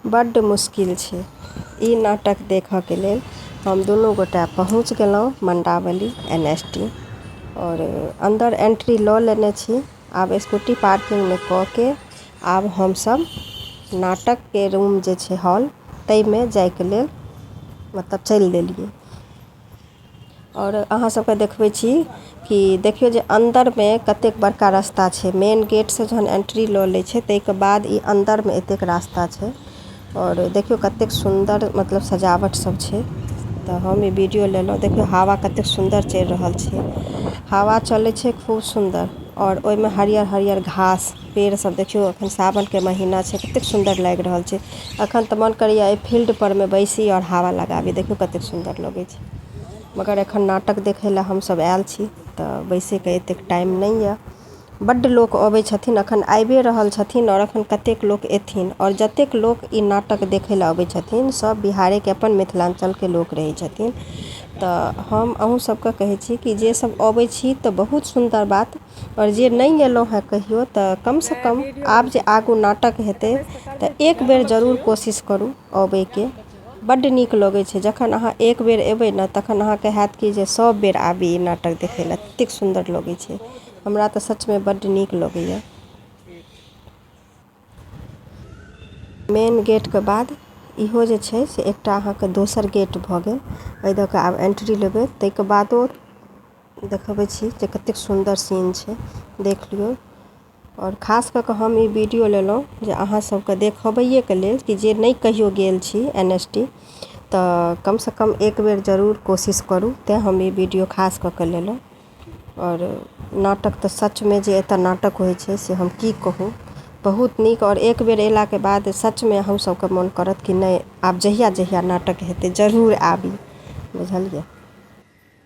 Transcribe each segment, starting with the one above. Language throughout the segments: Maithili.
बड्ड मुश्किल छै ई नाटक देखऽके लेल हम दुनू गोटा पहुँच गेलहुँ मण्डावली एन एस टी आओर अन्दर एन्ट्री लऽ लेने छी आब स्कूटी पार्किंगमे कऽ के आब हमसब नाटकके रूम जे छै हॉल तैमे जाइके लेल मतलब चलि देलियै आओर अहाँ सबके देखबै छी कि देखियौ जे अन्दरमे कतेक बड़का रास्ता छै मेन गेट से जहन एन्ट्री लऽ लै छै ताहिके बाद ई अन्दरमे एतेक रास्ता छै आओर देखियौ कतेक सुन्दर मतलब सजावट सब छै तऽ हम ई वीडियो लेलहुॅं देखियौ हवा कतेक सुन्दर चलि रहल छै हवा चलै छै खूब सुन्दर आओर ओहिमे हरियर हरियर घास पेड़ सब देखियो अखन सावन के महीना छै कतेक सुन्दर लाएग रहल छै अखन ते मन करे ये ए फील्ड पर में बैसी और हवा लगाबी देखियो कते सुन्दर लगे छै मगर अखन नाटक देखे ले हम सब आएल छी ते बैसे के एतेक टाइम ने ये बड्ड लोग आबे छथिन अखन आएबे रहल छथिन और अखन कतेक लोग ऐथिन और जतेक लोग इ नाटक देखे ले आबे छथिन सब बिहारे के अपन मिथलांचल के लोग रहे छथिन ते हम अहो सब के कहे छी की जे सब आबे छी ते बहुत सुन्दर बात -- आओर जे नहि गेलहुँ हँ कहियो तऽ कम सँ कम आब जे आगू नाटक हेतै तऽ एक बेर जरूर कोशिश करू अबैके बड्ड नीक लगै छै जखन अहाँ एक बेर एबै ने तखन अहाँके होयत कि जे सब बेर आबी ई नाटक देखै लए ततेक सुन्दर लगै छै हमरा तऽ सचमे बड्ड नीक लगैया मेन गेटके बाद इहो जे छै से एकटा अहाँके दोसर गेट भऽ गेल एहि दऽ कऽ आब एन्ट्री लेबै ताहिके बादो देखबै छी जे कतेक सुन्दर सीन छै देख लियौ आओर खास कऽ कऽ हम ई वीडियो लेलहुॅं जे अहाँ सबके देखबैये के लेल कि जे नहि कहियो गेल छी एन एस डी तऽ कम सँ कम एक बेर जरूर कोशिश करू तैं हम ई वीडियो खास कऽ कऽ लेलहुॅं आओर नाटक तऽ सच मे जे एतऽ नाटक होइ छै से हम की कहू बहुत नीक आओर एक बेर एला के बाद सच मे अहूँ सबके मोन करत कि नहि आब जहिया जहिया नाटक हेतै जरूर आबी बुझलियै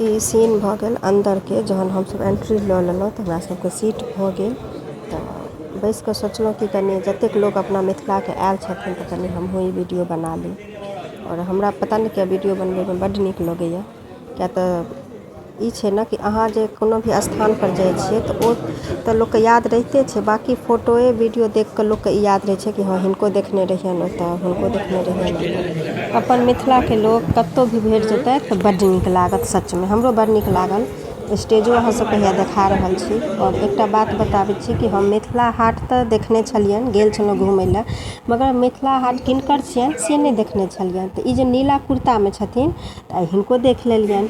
ई सीन भऽ गेल अन्दरके जहन हमसभ एन्ट्री लऽ लेलहुँ तऽ हमरा सभके सीट भऽ गेल तऽ बैसिकऽ सोचलहुँ कि कनि जतेक लोक अपना मिथिलाके आएल छथिन तऽ कनि हमहूँ ई वीडिओ बना ली आओर हमरा पता नहि किएक वीडियो बनबयमे बड्ड नीक लगइए किएक तऽ ई छै ने कि अहाँ जे कोनो भी स्थानपर जाइ छियै तऽ ओ तऽ लोकके याद रहिते छै बाकी फोटोये वीडियो देखकऽ लोकके ई याद रहय छै कि हँ हिनको देखने रहियनि ओतऽ हुनको देखने रहियनि अपन मिथिलाके लोक कतहु भी भेट जेतय तऽ बड्ड नीक लागत सचमे हमरो बड़ नीक लागल स्टेजो अहाँ सबके हैया देखा रहल छी आओर एकटा बात बताबै छी कि हम मिथिला हाट तऽ देखने छलियनि गेल छलहुॅं घुमै लए मगर मिथिला हाट किनकर छियनि से नहि देखने छलियनि तऽ ई जे नीला कुर्ता मे छथिन तऽ हिनको देख लेलियनि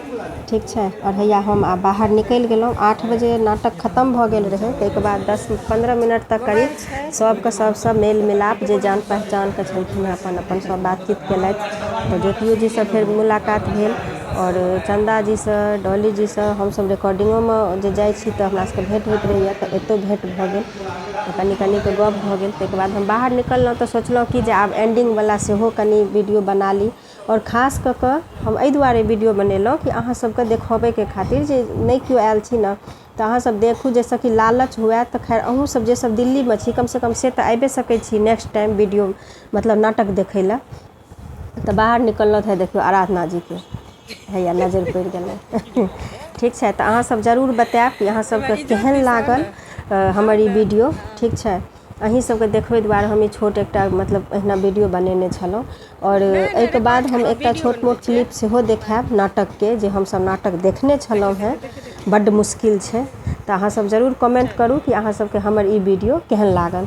ठीक छै आओर हैया हम आब बाहर निकलि गेलहुॅं आठ बजे नाटक खतम भऽ गेल रहै ताहिके बाद दस पन्द्रह मिनट तक करीब सभके सभसँ मेल मिलाप जे जान पहचानके छलखिन हेँ अपन अपन सभ बातचीत केलथि तऽ ज्योतियो जीसँ फेर मुलाकात भेल आओर चन्दा जीसँ डॉली जीसँ हमसभ रिकॉर्डिंगोमे जे जाइ छी तऽ हमरा सभके भेँट होइत रहैए तऽ एतहु भेँट भऽ गेल तऽ कनि कनिके गप्प भऽ गेल ताहिके बाद हम बाहर निकललहुँ तऽ सोचलहुँ कि जे आब एंडिंगवला सेहो कनि वीडियो बना ली आओर खास कऽ कऽ हम एहि दुआरे वीडियो बनेलहुँ कि अहाँसभके देखयबैके खातिर जे नहि किओ आयल छी ने तऽ अहाँ सब देखू जाहिसँ कि लालच हुए तऽ खैर अहूँ सब जे सब दिल्लीमे छी कम सँ कम से तऽ आइबे सकैत छी नेक्स्ट टाइम वीडियो मतलब नाटक देखै लए तऽ बाहर निकललथि हे देखियौ आराधना जीके हैया नजरि पड़ि गेलै ठीक छै तऽ अहाँ सब जरूर बतायब कि अहाँ सबके केहन लागल हमर ई वीडियो ठीक छै अहीं सबके देखबै दुआरे हम ई छोट एकटा मतलब अहिना वीडियो बनेने छलहुँ आओर नहि नहि एहिके बाद रिकॉर्ड हम केलहुँ एकटा वीडियो छोट बनबै मोट छियै क्लिप्स सेहो देखायब नाटकके जे हमसभ नाटक देखने छलहुँ देखैत हेँ हेबै देखैत हेबै बड्ड मुश्किल छै तऽ अहाँसभ जरूर कमेंट करू कि अहाँसभके हमर ई वीडियो केहन लागल